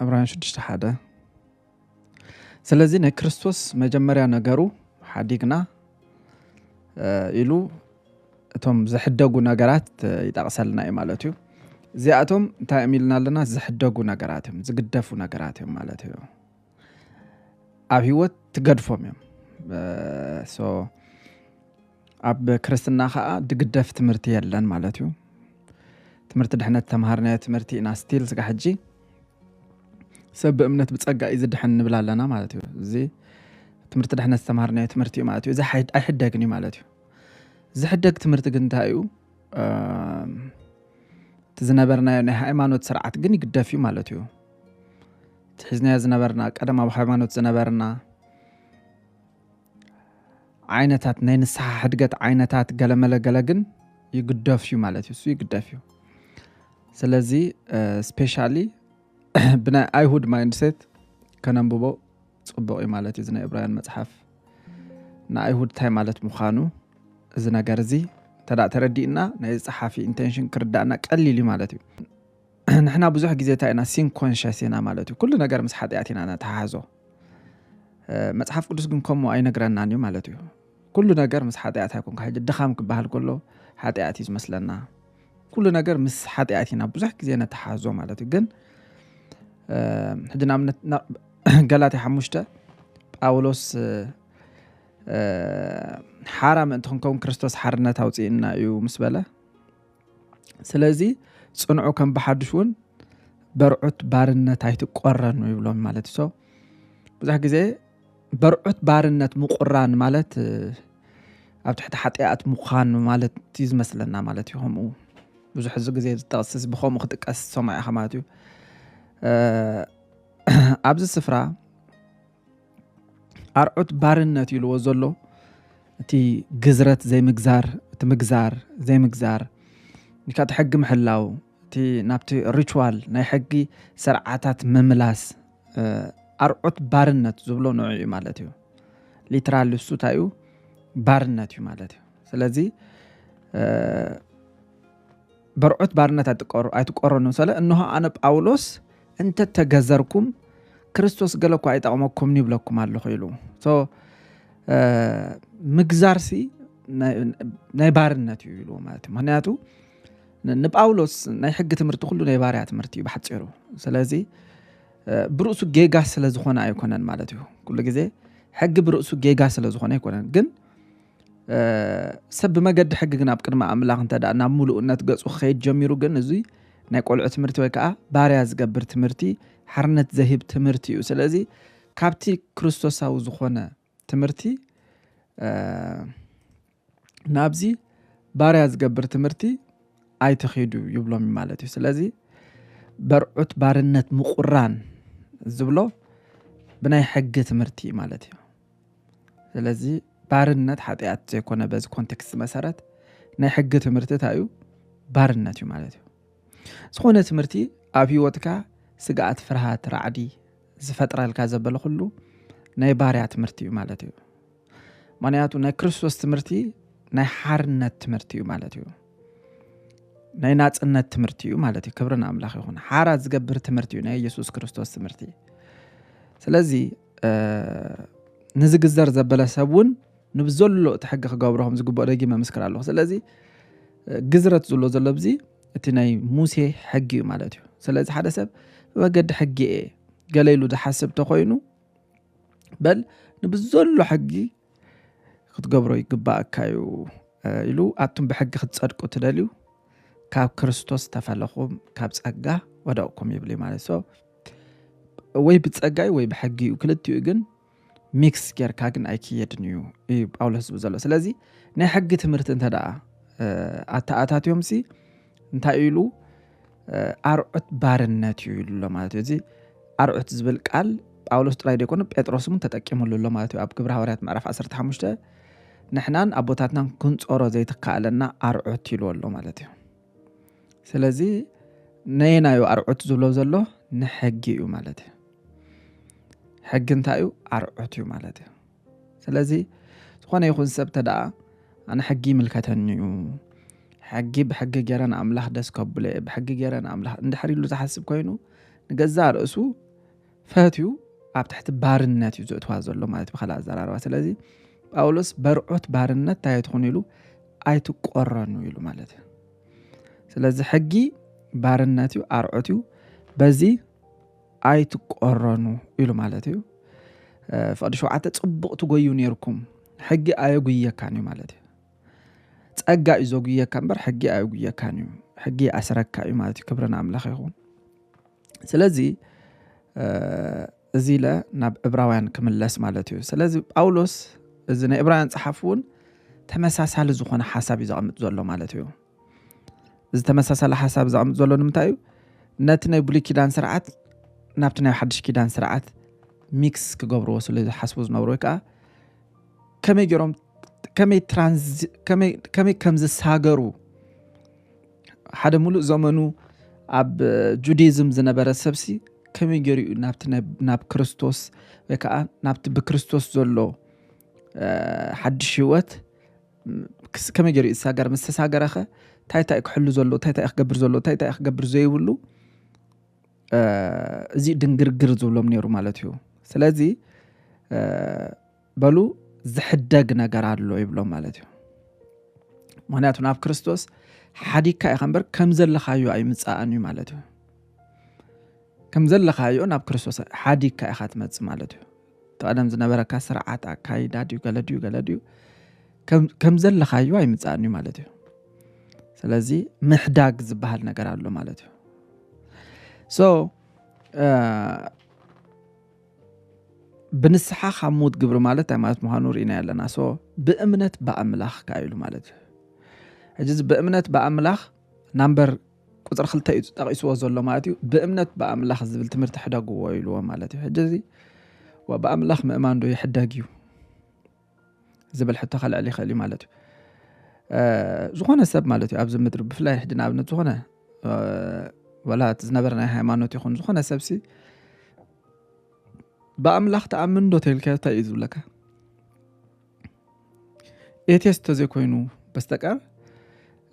ዕብራውያን ሽዱሽተ ሓደ ስለዚ ናይ ክርስቶስ መጀመርያ ነገሩ ሓዲግና ኢሉ እቶም ዝሕደጉ ነገራት ይጠቕሰልና እዩ ማለት እዩ እዚኣቶም እንታይ እዮም ኢልና ኣለና ዝሕደጉ ነገራት እዮም ዝግደፉ ነገራት እዮም ማለት እዩ ኣብ ህይወት ትገድፎም እዮም ኣብ ክርስትና ከኣ ድግደፍ ትምህርቲ የለን ማለት እዩ ትምህርቲ ድሕነት ተምሃርናዮ ትምህርቲ ኢና ስቲል ስጋ ሕጂ ሰብ ብእምነት ብጸጋ እዩ ዝድሕን ንብል ኣለና ማለት እዩ እዚ ትምህርቲ ድሕነት ዝተምሃርናዮ ትምህርቲ እዩ ማለት እዩ እዚ ኣይሕደግን እዩ ማለት እዩ ዝሕደግ ትምህርቲ ግን እንታይ እዩ እቲ ዝነበርናዮ ናይ ሃይማኖት ስርዓት ግን ይግደፍ እዩ ማለት እዩ እቲ ሒዝናዮ ዝነበርና ቀደም ኣብ ሃይማኖት ዝነበርና ዓይነታት ናይ ንስሓ ሕድገት ዓይነታት ገለመለ ገለ ግን ይግደፍ እዩ ማለት እዩ እሱ ይግደፍ እዩ ስለዚ ስፔሻሊ ብናይ ኣይሁድ ማይንድሴት ከነንብቦ ፅቡቅ እዩ ማለት እዩ ናይ እብራውያን መፅሓፍ ንኣይሁድ እንታይ ማለት ምዃኑ እዚ ነገር እዚ እንተ ተረዲእና ናይ ፀሓፊ ኢንቴንሽን ክርዳእና ቀሊል እዩ ማለት እዩ ንሕና ብዙሕ ግዜ እንታይ ኢና ሲን ኮንሸስ ኢና ማለት እዩ ኩሉ ነገር ምስ ሓጢኣት ኢና ነተሓሓዞ መጽሓፍ ቅዱስ ግን ከምኡ ኣይነግረናን እዩ ማለት እዩ ኩሉ ነገር ምስ ሓጢኣት ኣይኮንካ ሕጂ ድኻም ክበሃል ከሎ ሓጢኣት እዩ ዝመስለና ኩሉ ነገር ምስ ሓጢኣት ኢና ብዙሕ ግዜ ነተሓዞ ማለት እዩ ግን ሕጂ ንኣብነት ገላትያ ሓሙሽተ ጳውሎስ ሓራ ምእንቲ ክንከውን ክርስቶስ ሓርነት ኣውፅእና እዩ ምስ በለ ስለዚ ፅንዑ ከም ብሓዱሽ እውን በርዑት ባርነት ኣይትቆረኑ ይብሎም ማለት እዩ ሰው ብዙሕ ግዜ በርዑት ባርነት ምቁራን ማለት ኣብ ትሕቲ ሓጢኣት ምዃን ማለት እዩ ዝመስለና ማለት እዩ ከምኡ ብዙሕ እዚ ግዜ ዝጠቕስስ ብከምኡ ክጥቀስ ሰማዕ ኢኻ ማለት እዩ ኣብዚ ስፍራ ኣርዑት ባርነት ኢልዎ ዘሎ እቲ ግዝረት ዘይምግዛር እቲ ምግዛር ዘይምግዛር ንካቲ ሕጊ ምሕላው እቲ ናብቲ ሪችዋል ናይ ሕጊ ስርዓታት ምምላስ ኣርዑት ባርነት ዝብሎ ንዑ እዩ ማለት እዩ ሊትራል እሱ እንታይ እዩ ባርነት እዩ ማለት እዩ ስለዚ በርዑት ባርነት ኣይትቀሩ ኣይትቆረኑ ሰለ እንሆ ኣነ ጳውሎስ እንተ ተገዘርኩም ክርስቶስ ገለ እኳ ኣይጠቕመኩም ይብለኩም ኣለኹ ኢሉ ምግዛርሲ ናይ ባርነት እዩ ኢሉ ማለት እዩ ምክንያቱ ንጳውሎስ ናይ ሕጊ ትምህርቲ ኩሉ ናይ ባርያ ትምህርቲ እዩ ብሓፂሩ ስለዚ ብርእሱ ጌጋ ስለ ዝኾነ ኣይኮነን ማለት እዩ ኩሉ ግዜ ሕጊ ብርእሱ ጌጋ ስለ ዝኾነ ኣይኮነን ግን ሰብ ብመገዲ ሕጊ ግን ኣብ ቅድሚ ኣምላኽ እንተ ናብ ምሉእነት ገጹ ክኸይድ ጀሚሩ ግን እዙይ ናይ ቆልዑ ትምህርቲ ወይ ከዓ ባርያ ዝገብር ትምህርቲ ሓርነት ዘህብ ትምህርቲ እዩ ስለዚ ካብቲ ክርስቶሳዊ ዝኾነ ትምህርቲ ናብዚ ባርያ ዝገብር ትምህርቲ ኣይትኺዱ ይብሎም ማለት እዩ ስለዚ በርዑት ባርነት ምቁራን ዝብሎ ብናይ ሕጊ ትምህርቲ ማለት እዩ ስለዚ ባርነት ሓጢኣት ዘይኮነ በዚ ኮንቴክስት መሰረት ናይ ሕጊ ትምህርቲ እንታይ እዩ ባርነት እዩ ማለት እዩ ዝኾነ ትምህርቲ ኣብ ህይወትካ ስግኣት ፍርሃት ራዕዲ ዝፈጥረልካ ዘበለ ኩሉ ናይ ባርያ ትምህርቲ እዩ ማለት እዩ ምክንያቱ ናይ ክርስቶስ ትምህርቲ ናይ ሓርነት ትምህርቲ እዩ ማለት እዩ ናይ ናፅነት ትምህርቲ እዩ ማለት እዩ ክብርን ኣምላኽ ይኹን ሓራ ዝገብር ትምህርቲ እዩ ናይ ኢየሱስ ክርስቶስ ትምህርቲ ስለዚ ንዝግዘር ዘበለ ሰብ እውን ንብዘሎ እቲ ሕጊ ክገብሮ ከም ዝግብኦ ደጊመ ምስክር ኣለኹ ስለዚ ግዝረት ዝብሎ ዘሎ ብዚ እቲ ናይ ሙሴ ሕጊ እዩ ማለት እዩ ስለዚ ሓደ ሰብ ብመገዲ ሕጊ እየ ገለ ኢሉ ዝሓስብ ተኮይኑ በል ንብዘሎ ሕጊ ክትገብሮ ይግባእካ እዩ ኢሉ ኣቱም ብሕጊ ክትፀድቁ ትደልዩ ካብ ክርስቶስ ተፈለኹም ካብ ፀጋ ወደቕኩም ይብል ማለት ሶ ወይ ብጸጋይ ወይ ብሕጊ እዩ ክልቲኡ ግን ሚክስ ጌርካ ግን ኣይክየድን እዩ እዩ ጳውሎስ ዝብል ዘሎ ስለዚ ናይ ሕጊ ትምህርቲ እንተ ደኣ ኣተኣታትዮም ሲ እንታይ ኢሉ ኣርዑት ባርነት እዩ ኢሉ ኣሎ ማለት እዩ እዚ ኣርዑት ዝብል ቃል ጳውሎስ ጥራይ ዘይኮነ ጴጥሮስ እውን ተጠቂሙሉ ኣሎ ማለት እዩ ኣብ ግብረ ሃዋርያት ምዕራፍ 15 ንሕናን ኣቦታትናን ክንፀሮ ዘይትካኣለና ኣርዑት ኢሉ ኣሎ ማለት እዩ ስለዚ ነየናዩ ኣርዑት ዝብሎ ዘሎ ንሕጊ እዩ ማለት እዩ ሕጊ እንታይ እዩ ኣርዑት እዩ ማለት እዩ ስለዚ ዝኾነ ይኹን ሰብ ተደኣ ኣነ ሕጊ ይምልከተኒ እዩ ሕጊ ብሕጊ ገይረ ንኣምላኽ ደስ ከብሎ እየ ብሕጊ ገይረ ንኣምላኽ እንድሕር ኢሉ ዝሓስብ ኮይኑ ንገዛእ ርእሱ ፈትዩ ኣብ ትሕቲ ባርነት እዩ ዘእትዋ ዘሎ ማለት ብካልእ ኣዘራርባ ስለዚ ጳውሎስ በርዖት ባርነት እንታይ ኣይትኹኑ ኢሉ ኣይትቆረኑ ኢሉ ማለት እዩ ስለዚ ሕጊ ባርነት እዩ ኣርዖት እዩ በዚ ኣይትቆረኑ ኢሉ ማለት እዩ ፍቅዲ ሸውዓተ ፅቡቅ ትጎዩ ነርኩም ሕጊ ኣየጉየካን እዩ ማለት እዩ ፀጋ እዩ ዘጉየካ እምበር ሕጊ ኣየጉየካን እዩ ሕጊ ኣስረካ እዩ ማለት እዩ ክብርን ኣምላኽ ይኹን ስለዚ እዚ ኢለ ናብ እብራውያን ክምለስ ማለት እዩ ስለዚ ጳውሎስ እዚ ናይ እብራውያን ፀሓፍ እውን ተመሳሳሊ ዝኾነ ሓሳብ እዩ ዘቐምጥ ዘሎ ማለት እዩ እዚ ተመሳሳሊ ሓሳብ ዘቐምጥ ዘሎ ንምንታይ እዩ ነቲ ናይ ብሉይ ኪዳን ስርዓት ናብቲ ናይ ሓድሽ ኪዳን ስርዓት ሚክስ ክገብርዎ ስለ ዝሓስቡ ዝነብሩ ወይ ከዓ ከመይ ገይሮም ከመይ ከም ዝሳገሩ ሓደ ሙሉእ ዘመኑ ኣብ ጁዲዝም ዝነበረ ሰብሲ ከመይ ገይሩ እዩ ናብቲ ናብ ክርስቶስ ወይ ከዓ ናብቲ ብክርስቶስ ዘሎ ሓድሽ ህይወት ከመይ ገይሩ ይሳገር ምስ ተሳገረኸ እንታይ እንታይ ክሕሉ ዘሎ እንታይ እንታይ ክገብር ዘሎ እንታይ እንታይ ክገብር ዘይብሉ እዚ ድንግርግር ዝብሎም ነይሩ ማለት እዩ ስለዚ በሉ ዝሕደግ ነገር ኣሎ ይብሎ ማለት እዩ ምክንያቱ ናብ ክርስቶስ ሓዲግካ ኢኻ እምበር ከም ዘለኻዮ ኣይምፃእን እዩ ማለት እዩ ከም ዘለኻዮ ናብ ክርስቶስ ሓዲግካ ኢኻ ትመፅእ ማለት እዩ ተቐደም ዝነበረካ ስርዓት ኣካይዳ ድዩ ገለ ድዩ ገለ ድዩ ከም ዘለኻዮ ኣይምፃእን እዩ ማለት እዩ ስለዚ ምሕዳግ ዝበሃል ነገር ኣሎ ማለት እዩ ሶ ብንስሓ ካብ ሞት ግብሪ ማለት እንታይ ማለት ምዃኑ ርኢናዮ ኣለና ሶ ብእምነት ብኣምላኽ ከኣ ኢሉ ማለት እዩ ሕጂ እዚ ብእምነት ብኣምላኽ ናምበር ቁፅሪ ክልተ እዩ ጠቂስዎ ዘሎ ማለት እዩ ብእምነት ብኣምላኽ ዝብል ትምህርቲ ሕደግዎ ኢልዎ ማለት እዩ ሕጂ እዚ ብኣምላኽ ምእማን ዶ ይሕደግ እዩ ዝብል ሕቶ ከልዕል ይኽእል እዩ ማለት እዩ ዝኾነ ሰብ ማለት እዩ ኣብዚ ምድሪ ብፍላይ ሕጂ ንኣብነት ዝኾነ ወላ እቲ ዝነበረ ናይ ሃይማኖት ይኹን ዝኾነ ሰብሲ ብኣምላኽ ተኣምን ዶ ተልካ እንታይ እዩ ዝብለካ ኤቴስ ተዘይኮይኑ በስተቀር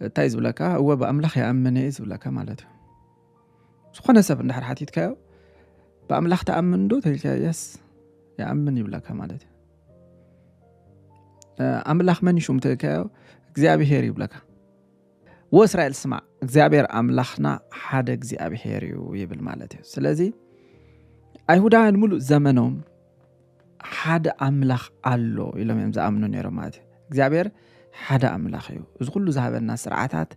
እንታይ እዩ ዝብለካ እወ ብኣምላኽ ይኣምን እዩ ዝብለካ ማለት እዩ ዝኾነ ሰብ እንድሕር ሓቲትካዮ ብኣምላኽ ተኣምን ዶ ተልካ የስ ይኣምን ይብለካ ማለት እዩ ኣምላኽ መን ሹም ትእከዮ እግዚኣብሄር ይብለካ ወ እስራኤል ስማዕ እግዚኣብሔር ኣምላኽና ሓደ እግዚኣብሄር እዩ ይብል ማለት እዩ ስለዚ ኣይሁዳውያን ሙሉእ ዘመኖም ሓደ ኣምላኽ ኣሎ ኢሎም እዮም ዝኣምኑ ነይሮም ማለት እዩ እግዚኣብሔር ሓደ ኣምላኽ እዩ እዚ ኩሉ ዝሃበና ስርዓታት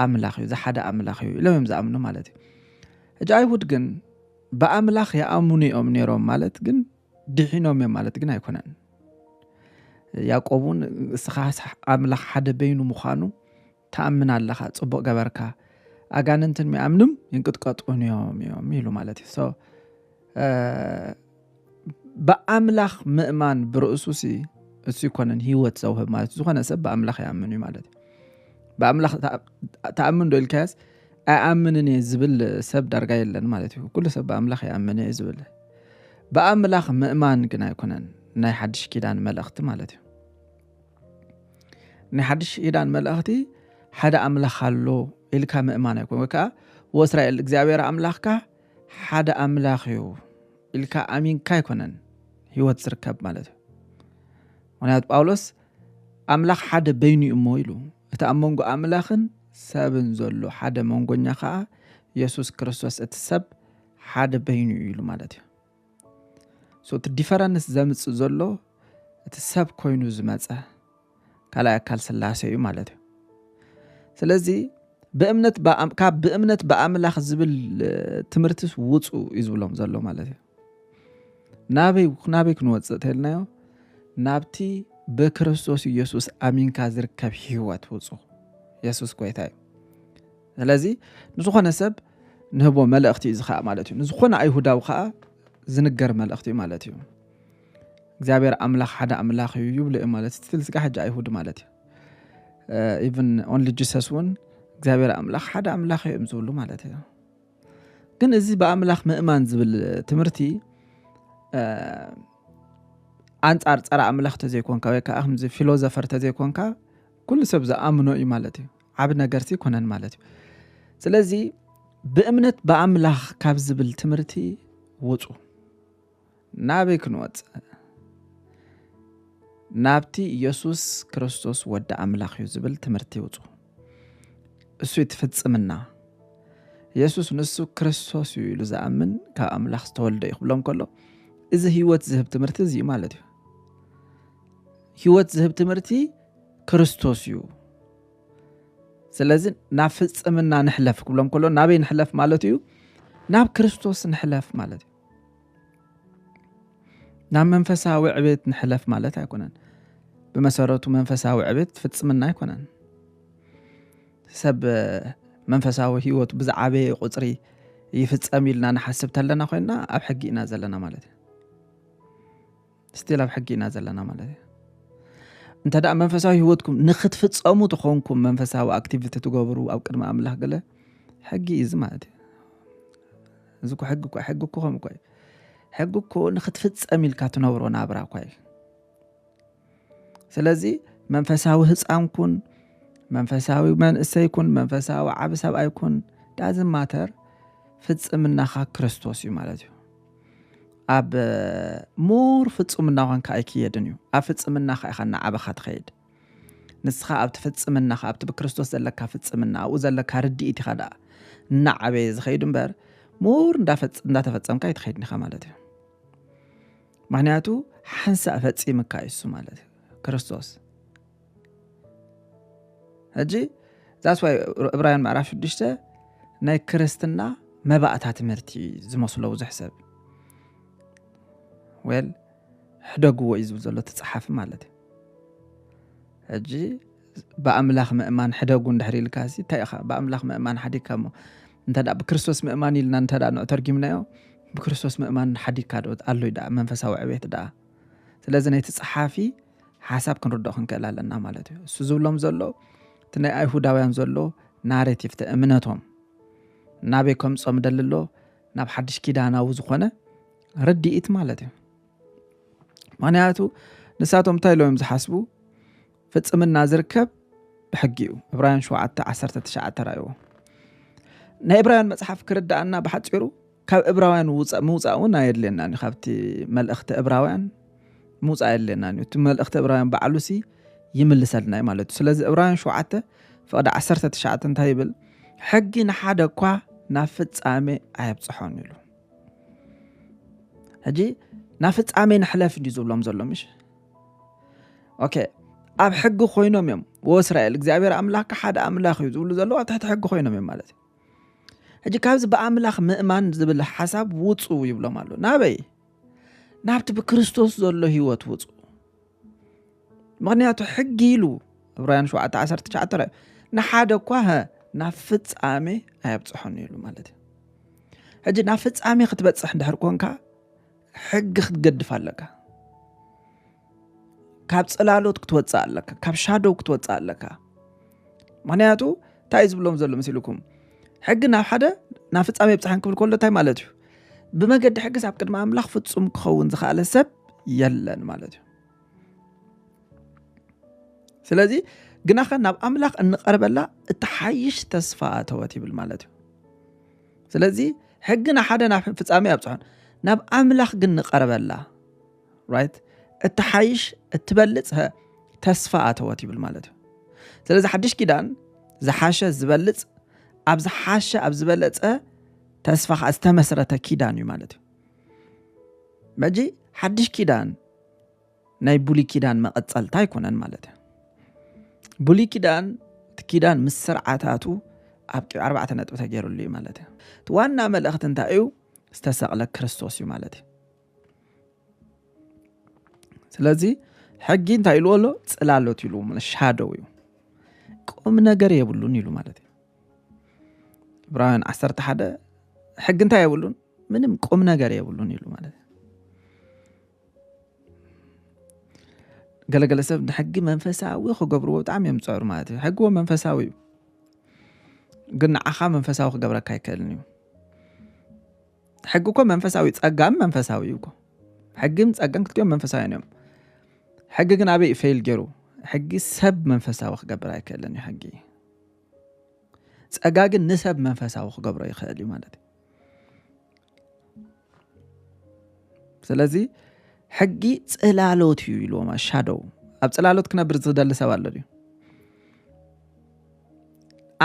ኣምላኽ እዩ ዝሓደ ኣምላኽ እዩ ኢሎም እዮም ዝኣምኑ ማለት እዩ ሕጂ ኣይሁድ ግን ብኣምላኽ ይኣምኑ እዮም ነይሮም ማለት ግን ድሒኖም እዮም ማለት ግን ኣይኮነን። ያዕቆብ እውን እስኻ ኣምላኽ ሓደ በይኑ ምዃኑ ተኣምን ኣለኻ ጽቡቕ ገበርካ ኣጋንንትን ሚኣምንም ይንቅጥቀጡን እዮም እዮም ኢሉ ማለት እዩ ሶ ብኣምላኽ ምእማን ብርእሱ ሲ እሱ ይኮነን ሂወት ዘውህብ ማለት እዩ ዝኾነ ሰብ ብኣምላኽ ይኣምን እዩ ማለት እዩ ብኣምላኽ ተኣምን ዶ ኢልካያስ ኣይኣምንን እየ ዝብል ሰብ ዳርጋ የለን ማለት እዩ ኩሉ ሰብ ብኣምላኽ ይኣምን እየ ዝብል ብኣምላኽ ምእማን ግን ኣይኮነን ናይ ሓድሽ ኪዳን መልእኽቲ ማለት እዩ ናይ ሓድሽ ኪዳን መልእኽቲ ሓደ ኣምላኽ ኣሎ ኢልካ ምእማን ኣይኮነ ወይ ከዓ ወእስራኤል እግዚኣብሔር ኣምላኽካ ሓደ ኣምላኽ እዩ ኢልካ ኣሚንካ ኣይኮነን ህይወት ዝርከብ ማለት እዩ ምክንያቱ ጳውሎስ ኣምላኽ ሓደ በይኑ እዩ እሞ ኢሉ እቲ ኣብ መንጎ ኣምላኽን ሰብን ዘሎ ሓደ መንጎኛ ከዓ የሱስ ክርስቶስ እቲ ሰብ ሓደ በይኑ እዩ ኢሉ ማለት እዩ ሶ እቲ ዲፈረንስ ዘምፅእ ዘሎ እቲ ሰብ ኮይኑ ዝመፀ ካልኣይ ኣካል ስላሴ እዩ ማለት እዩ ስለዚ ብእምነት ካብ ብእምነት ብኣምላኽ ዝብል ትምህርትስ ውፁ እዩ ዝብሎም ዘሎ ማለት እዩ ናበይ ናበይ ክንወፅእ ተልናዮ ናብቲ ብክርስቶስ ኢየሱስ ኣሚንካ ዝርከብ ህይወት ውፁ የሱስ ጎይታ እዩ ስለዚ ንዝኾነ ሰብ ንህቦ መልእኽቲ እዩ ዝኸኣ ማለት እዩ ንዝኾነ ኣይሁዳዊ ከዓ ዝንገር መልእኽቲ እዩ ማለት እዩ እግዚኣብሔር ኣምላኽ ሓደ ኣምላኽ እዩ ይብሉ እዮም ማለት ስትል ስጋ ሕጂ ኣይሁድ ማለት እዩ ኢቨን ኦንሊ ጂሰስ እውን እግዚኣብሔር ኣምላኽ ሓደ ኣምላኽ እዮም ዝብሉ ማለት እዩ ግን እዚ ብኣምላኽ ምእማን ዝብል ትምህርቲ ኣንጻር ፀረ ኣምላኽ ተዘይኮንካ ወይ ከዓ ከምዚ ፊሎዘፈር ተዘይኮንካ ኩሉ ሰብ ዝኣምኖ እዩ ማለት እዩ ዓብ ነገርሲ ኣይኮነን ማለት እዩ ስለዚ ብእምነት ብኣምላኽ ካብ ዝብል ትምህርቲ ውፁ ናበይ ክንወፅእ ናብቲ ኢየሱስ ክርስቶስ ወዲ ኣምላኽ እዩ ዝብል ትምህርቲ ይውፁ እሱ ይትፍፅምና ኢየሱስ ንሱ ክርስቶስ እዩ ኢሉ ዝኣምን ካብ ኣምላኽ ዝተወልደ እዩ ክብሎም ከሎ እዚ ህይወት ዝህብ ትምህርቲ እዚ ማለት እዩ ህይወት ዝህብ ትምህርቲ ክርስቶስ እዩ ስለዚ ናብ ፍፅምና ንሕለፍ ክብሎም ከሎ ናበይ ንሕለፍ ማለት እዩ ናብ ክርስቶስ ንሕለፍ ማለት እዩ ናብ መንፈሳዊ ዕቤት ንሕለፍ ማለት ኣይኮነን ብመሰረቱ መንፈሳዊ ዕቤት ፍፅምና ኣይኮነን ሰብ መንፈሳዊ ህይወቱ ብዝዓበየ ቁፅሪ ይፍፀም ኢልና ንሓስብ ተለና ኮይና ኣብ ሕጊ ኢና ዘለና ማለት እዩ ስቲል ኣብ ሕጊ ኢና ዘለና ማለት እዩ እንተ ደኣ መንፈሳዊ ህይወትኩም ንክትፍፀሙ ትኾንኩም መንፈሳዊ ኣክቲቪቲ ትገብሩ ኣብ ቅድሚ ኣምላኽ ገለ ሕጊ እዩ እዚ ማለት እዩ እዚ እኮ ሕጊ እኮ ሕጊ እኮ ከምኡ እኮ እዩ ሕጊ እኮ ንክትፍፀም ኢልካ ትነብሮ ናብራ እኳ እዩ ስለዚ መንፈሳዊ ህፃን ኩን መንፈሳዊ መንእሰይ ኩን መንፈሳዊ ዓብ ሰብኣይ ኩን ዳዝ ማተር ፍፅምናኻ ክርስቶስ እዩ ማለት እዩ ኣብ ሙር ፍጹምና ኳንካ ኣይክየድን እዩ ኣብ ፍጽምናኻ ኢኻ እናዓበኻ ትኸይድ ንስኻ ኣብቲ ፍጽምናኻ ኣብቲ ብክርስቶስ ዘለካ ፍጽምና ኣብኡ ዘለካ ርድኢት ኢኻ ደኣ እናዓበየ ዝኸይድ እምበር ሙር እንዳተፈጸምካ ኣይትኸይድን ኢኻ ማለት እዩ ምክንያቱ ሓንሳእ ፈጺምካ እዩ እሱ ማለት እዩ ክርስቶስ ሕጂ ዛስ ዋይ እብራውያን ምዕራፍ ሽዱሽተ ናይ ክርስትና መባእታ ትምህርቲ ዝመስሎ ብዙሕ ሰብ ወል ሕደግዎ እዩ ዝብል ዘሎ ትፀሓፊ ማለት እዩ ሕጂ ብኣምላኽ ምእማን ሕደጉ እንድሕር ኢልካ ሲ እንታይ ኢኻ ብኣምላኽ ምእማን ሓዲግካ እሞ እንተ ብክርስቶስ ምእማን ኢልና እንተ ንዑ ተርጊምናዮ ብክርስቶስ ምእማን ሓዲግካ ዶ ኣሎ ዩ ደኣ መንፈሳዊ ዕቤት ደኣ ስለዚ ነቲ ፀሓፊ ሓሳብ ክንርድኦ ክንክእል ኣለና ማለት እዩ እሱ ዝብሎም ዘሎ እቲ ናይ ኣይሁዳውያን ዘሎ ናሬቲቭ እቲ እምነቶም ናበይ ከምጾም ደሊ ኣሎ ናብ ሓድሽ ኪዳናዊ ዝኾነ ርድኢት ማለት እዩ ምክንያቱ ንሳቶም እንታይ ኢሎም ዝሓስቡ ፍፅምና ዝርከብ ብሕጊ እዩ እብራውያን 7 19 ራእዎ ናይ እብራውያን መፅሓፍ ክርዳእና ብሓፂሩ ካብ እብራውያን ውፃእ ምውፃእ እውን ኣየድልየናን እዩ ካብቲ መልእኽቲ እብራውያን ምውፃእ ኣየድልየናን እዩ እቲ መልእኽቲ እብራውያን ባዕሉ ሲ ይምልሰልና እዩ ማለት እዩ ስለዚ እብራውያን ሸውዓተ ፍቕዲ ዓሰርተ ትሽዓተ እንታይ ይብል ሕጊ ንሓደ እኳ ናብ ፍፃሜ ኣየብፅሖን ኢሉ ሕጂ ናብ ፍፃሜ ንሕለፍ እንዲዩ ዝብሎም ዘሎ ምሽ ኦኬ ኣብ ሕጊ ኮይኖም እዮም ወእስራኤል እግዚኣብሔር ኣምላክ ሓደ ኣምላኽ እዩ ዝብሉ ዘለዉ ኣብ ትሕቲ ሕጊ ኮይኖም እዮም ማለት እዩ ሕጂ ካብዚ ብኣምላኽ ምእማን ዝብል ሓሳብ ውፁ ይብሎም ኣሎ ናበይ ናብቲ ብክርስቶስ ዘሎ ህይወት ውፁ ምክንያቱ ሕጊ ኢሉ ዕብራውያን 719 ንሓደ እኳ ናብ ፍፃሜ ኣየብፅሖን ኢሉ ማለት እዩ ሕጂ ናብ ፍፃሜ ክትበፅሕ እንድሕር ኮንካ ሕጊ ክትገድፍ ኣለካ ካብ ጽላሎት ክትወጽእ ኣለካ ካብ ሻዶው ክትወጽእ ኣለካ ምክንያቱ እንታይ ዝብሎም ዘሎ መሲልኩም ሕጊ ናብ ሓደ ናብ ፍጻሜ ብፅሓን ክብል ከሎ እንታይ ማለት እዩ ብመገዲ ሕግስ ኣብ ቅድሚ ኣምላኽ ፍጹም ክኸውን ዝኸኣለ ሰብ የለን ማለት እዩ ስለዚ ግናኸ ናብ ኣምላኽ እንቐርበላ እትሓይሽ ተስፋ ኣተወት ይብል ማለት እዩ ስለዚ ሕግና ሓደ ናብ ፍጻሜ ኣብፅሖን ናብ ኣምላኽ ግን ንቐርበላ ራይት እትሓይሽ እትበልፅ ተስፋ ኣተወት ይብል ማለት እዩ ስለዚ ሓድሽ ኪዳን ዝሓሸ ዝበልፅ ኣብ ዝሓሸ ኣብ ዝበለፀ ተስፋ ከዓ ዝተመስረተ ኪዳን እዩ ማለት እዩ መጂ ሓድሽ ኪዳን ናይ ብሉይ ኪዳን መቐፀልታ ኣይኮነን ማለት እዩ ብሉይ ኪዳን እቲ ኪዳን ምስ ስርዓታቱ ኣብ ቂ ኣርባዕተ ነጥቢ ተገይሩሉ እዩ ማለት እዩ እቲ ዋና መልእኽቲ እንታይ እዩ ዝተሰቕለ ክርስቶስ እዩ ማለት እዩ ስለዚ ሕጊ እንታይ ኢልዎ ኣሎ ፅላሎት ኢልዎ ማለት ሻደው እዩ ቁም ነገር የብሉን ኢሉ ማለት እዩ ዕብራውያን ዓሰርተ ሓደ ሕጊ እንታይ የብሉን ምንም ቁም ነገር የብሉን ኢሉ ማለት እዩ ገለገለ ሰብ ንሕጊ መንፈሳዊ ክገብርዎ ብጣዕሚ እዮም ዝፀሩ ማለት እዩ ሕጊ መንፈሳዊ እዩ ግን ንዓኻ መንፈሳዊ ክገብረካ ኣይክእልን እዩ ሕጊ እኮ መንፈሳዊ ጸጋም መንፈሳዊ እዩ እኮ ሕግን ጸጋን ክልቲኦም መንፈሳውያን እዮም ሕጊ ግን ኣበይ እዩ ፈይል ገይሩ ሕጊ ሰብ መንፈሳዊ ክገብር ኣይክእልን እዩ ሕጊ ጸጋ ግን ንሰብ መንፈሳዊ ክገብሮ ይኽእል እዩ ማለት እዩ ስለዚ ሕጊ ጽላሎት እዩ ኢልዎም ሻዶው ኣብ ጽላሎት ክነብር ዝደሊ ሰብ ኣሎ ድዩ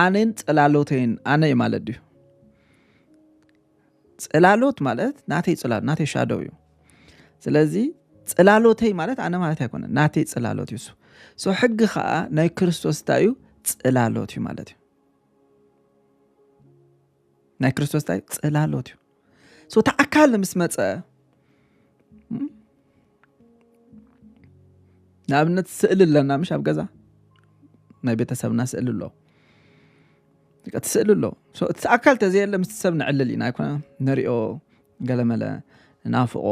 ኣነን ጽላሎተይን ኣነ እዩ ማለት ድዩ ጽላሎት ማለት ናተይ ጽላሎት ናተይ ሻዶው እዩ ስለዚ ጽላሎተይ ማለት ኣነ ማለት ኣይኮነ ናተይ ጽላሎት እዩ ሶ ሕጊ ከዓ ናይ ክርስቶስ እንታይ እዩ ጽላሎት እዩ ማለት እዩ ናይ ክርስቶስ እንታይ ጽላሎት እዩ ሶ እቲ ኣካል ምስ መፀ ንኣብነት ስእሊ ኣለና ምሽ ኣብ ገዛ ናይ ቤተሰብና ስእሊ ኣሎ እቲ ስእሊ ኣሎ እቲ ኣካል ተዘየለ ምስ ሰብ ንዕልል ኢና ኣይኮነ ንሪኦ ገለመለ ናፍቆ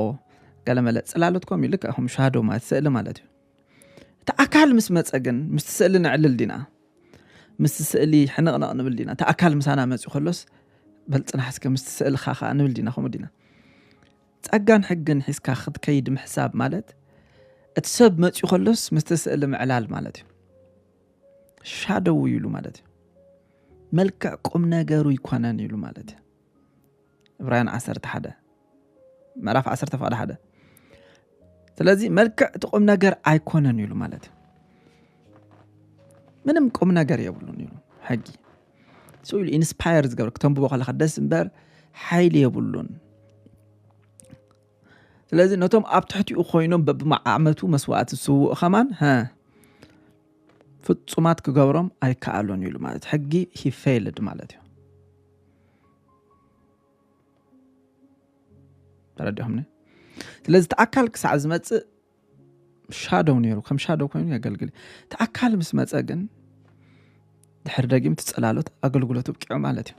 ገለመለ ፅላሎት ኮም ልክ ከም ሻዶ ማለት ስእሊ ማለት እዩ እቲ ኣካል ምስ መፀ ግን ምስቲ ስእሊ ንዕልል ዲና ምስቲ ስእሊ ሕንቕነቕ ንብል ዲና እቲ ኣካል ምሳና መፅኡ ከሎስ በልፅናሕ እስከ ምስቲ ስእልካ ከዓ ንብል ዲና ከምኡ ዲና ጸጋን ሕግን ሒዝካ ክትከይድ ምሕሳብ ማለት እቲ ሰብ መፅኡ ከሎስ ምስቲ ስእሊ ምዕላል ማለት እዩ ሻደው ኢሉ ማለት እዩ መልክዕ ቁም ነገሩ ይኮነን ኢሉ ማለት እዩ እብራውያን ዓሰርተ ሓደ ምዕራፍ ዓሰርተ ፍቓድ ሓደ ስለዚ መልክዕ እቲ ቁም ነገር ኣይኮነን ኢሉ ማለት እዩ ምንም ቁም ነገር የብሉን ኢሉ ሕጊ ስኡ ኢሉ ኢንስፓየር ዝገብር ክተንብቦ ከለካ ደስ እምበር ሓይሊ የብሉን ስለዚ ነቶም ኣብ ትሕቲኡ ኮይኖም በብመዓመቱ መስዋእቲ ዝስውኡ ከማን ፍጹማት ክገብሮም ኣይከኣሎን ኢሉ ማለት ሕጊ ሂፌልድ ማለት እዩ ተረዲኹምኒ ስለዚ እቲ ኣካል ክሳዕ ዝመፅእ ሻዶው ነይሩ ከም ሻዶው ኮይኑ የገልግል እቲ ኣካል ምስ መፀ ግን ድሕሪ ደጊም ትፀላሎት ኣገልግሎት ብቂዑ ማለት እዩ